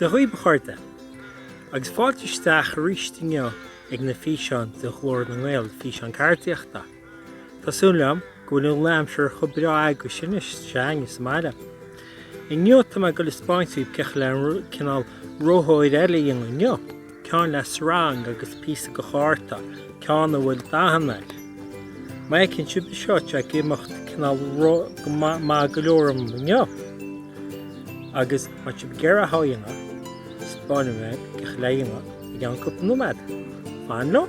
Dia dhaoib a chairde! Agus fáilte isteach arís inniu ag na físeáin de Ghlór na nGael, físeáin ceardaíochta. Tá súil agam go bhfuil an aimsir chomh breá agaibhse anois is atá againne sa mbaile. Inniu tá mé ag dul a 'speáint daoibh cén chaoi le cineál rothlóir eile a dhéanamh inniu, ceann le srang agus píosa de chárta, ceann a bhfuil dathanna air. Má fheiceann sibh anseo tá sé ag imeacht cineál maith go leor dom inniu, agus má tá sibh ag iarraidh é a dhéanamh, 'speáinfidh mé cén chaoi le hé a dhéanamh i gceann cúpla nóiméad. Fan liom!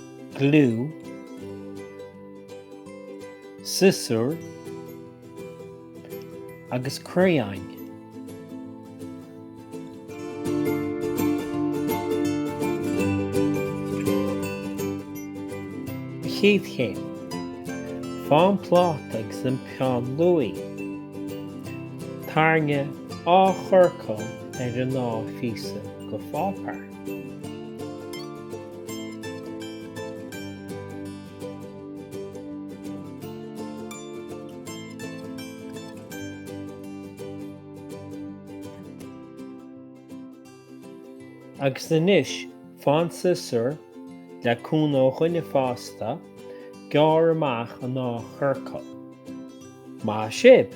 gliú, siosúr agus criáin. An chéad chéim, faigh an pláta agus an peann luaidhe. Tarraing dhá chiorcal ar an dá phíosa de pháipéar. Agus anois, faigh an siosúr, le cúnamh ó dhuine fásta, gearr amach an dá chiorcal. Maith sibh!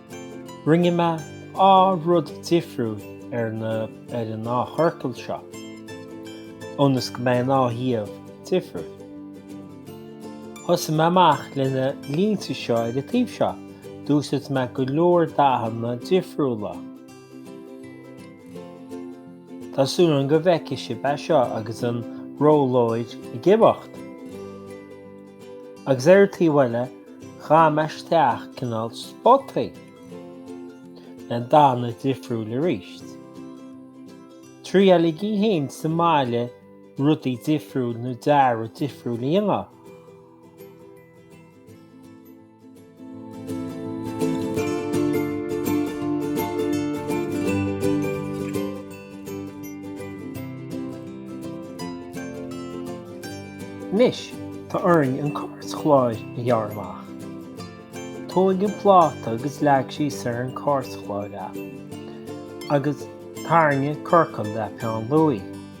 Rinne mé dhá rud difriúil ar na ar an ndá chiorcal seo, ionas go mbeidh an dá thaobh difriúil. Thosaigh mé amach le na línte seo ar an taobh seo, d'úsáid mé go leor dathanna difriúla. Tá súil agam go bhfeicfidh sibh é seo agus an rothlóir ag imeacht. Agus ar an taobh eile, dhathaigh mé isteach cineál spotaí le dathanna difriúil arís. Triailigí héin sa mbaile rudaí difriúil nó dearadh difriúil a dhéanamh. Anois tá orainn an cairtchlár a ghearradh amach. Tóig an pláta agus leag síos ar an cairtchlár é agus tarraing ciorcal le peann luaidhe.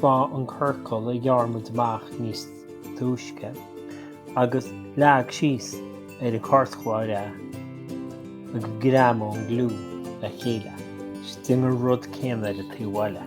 Bhain an ciorcal a ghearr muid amach níos túisce agus leag síos ar an chairtchláir é agus greamaigh an gliú le chéile. 'S déan an rud céanna ar an taobh eile.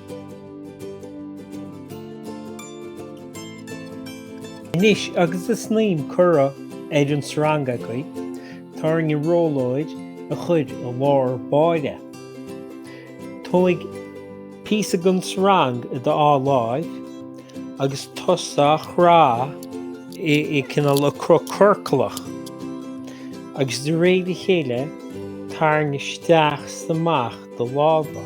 Anois agus é in am cur ar an sreang againn, tá orainn rothlóid a chuir i lár báire. Tóig píosa den sreang i do dhá láimh agus tosaigh á chrá i cineál ciorclach agus de réir a chéile tarraing isteach 's amach do lámha.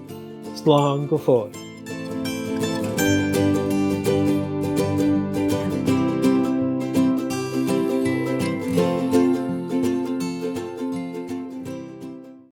slán go fóill.